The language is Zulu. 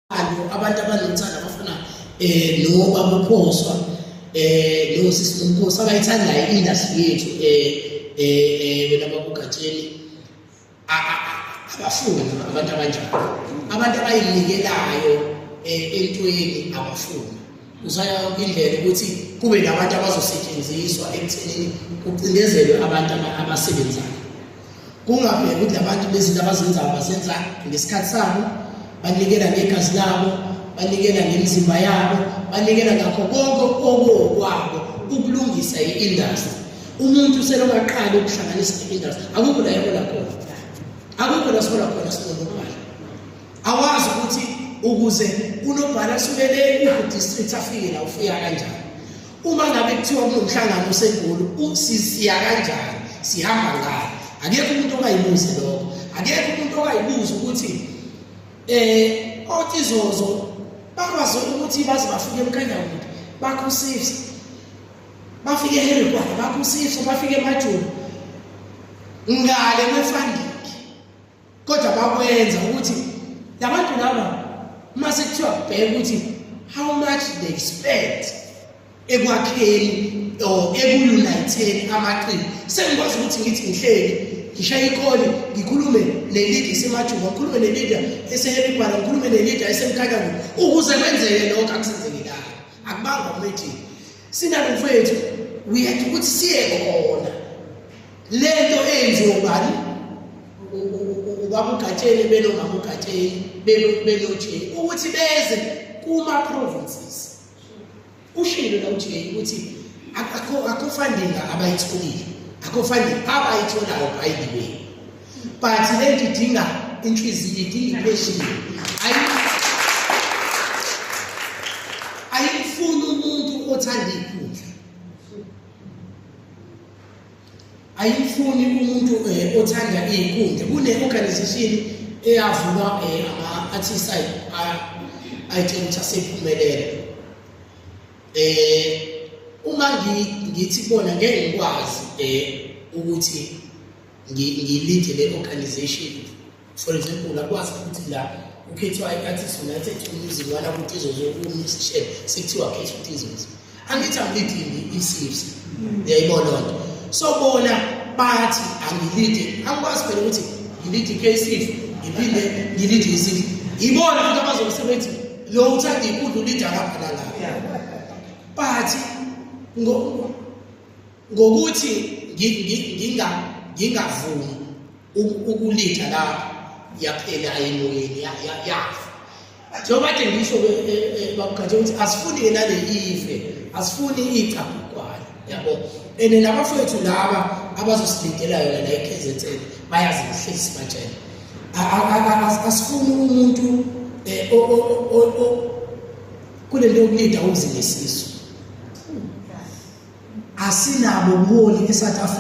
Alo abantu abanomthanda bafuna eh no babuphoswa eh no sisi nomkhosi abayithanda i-industry yethu eh eh wena babugatsheni abafuni abantu abanjalo abantu abayinikelayo eh, entweni abafuni Usaya yonke indlela ukuthi kube nabantu abazosetshenziswa ekuthenini kucindezelwe abantu abasebenzayo. Kungabheki ukuthi labantu bezinto abazenzayo bazenza ngesikhathi sabo, banikela ngegazi labo, banikela ngemizimba yabo, banikela ngakho konke okokwabo ukulungisa i-industry. Umuntu selokaqala ukuhlanganisa i-industry akukho la yabona khona. Akukho la sibona khona sinomuntu. awazi ukuthi ukuze unobhala asuke le ku-district afike la ufika kanjani uma ngabe kuthiwa kunomhlangano osegulu siya kanjani sihamba ngayo akekho umuntu ongayibuzi lokho akekho umuntu ongayibuzi ukuthi um otizozo bakwazi ukuthi baze bafike emkanyakude bakho usifsa bafike eherikwana bakho usifsa bafike emajoni ngale kwefandini kodwa bakwenza ukuthi labantu laba uma sekuthiwa bheka ukuthi how much they spend ekwakheni or ekuuniteni amaqili sengikwazi ukuthi ngithi ngihleli ngishaye ikholi ngikhulume nelidi esemajuba ngikhulume nelida esehebibhala ngikhulume nelida esemkhakango ukuze kwenzeke lokho akusenzekelanga akubanga umethini sinalo mfowethu uyethu ukuthi siye khona lento eyenziwa ubani ubamugatsheni benongamugatsheni benoje ukuthi beze kuma-provinces ushilo la uj ukuthi akho funding abayitholile akho funding abayitholayo by the way but le nto idinga inhliziyo idinga ipheshini ayifuni umuntu othanda ikhulu ayifuni umuntu eh, othanda izinkundla kune organization eyavulwa eh, ama artists ay ayitshela ukuthi asephumelele eh uma ngithi bona ngeke ngikwazi eh ukuthi ngilinde le organization for example akwazi ukuthi la ukhethiwa i-artist united tourism wala ukuthi izozo umisishe sekuthiwa khetha ukuthi izozo angithi angilidingi i-cfc yayibona loo nto so bona bathi angilidi angikwazi phela ukuthi ngilidi i-kcf ngiphinde ngilidi i-cf yibona futhi abazokusebenzi lo uthanda inkundla ulida kaphana la but ngokuthi ngingavumi ukulitha lapho yaphela emoyeni yafa njengoba kade ngisho babukhathi ukuthi asifuni-ke nale ife asifuni iyicabhukwana yabo and nabafowethu laba abazosilindela yona la i-kzn bayazi kuhleli sibatshela asifuni umuntu eh, kule nto yokulinda umzilisiso asinabo ubuholi e-south africa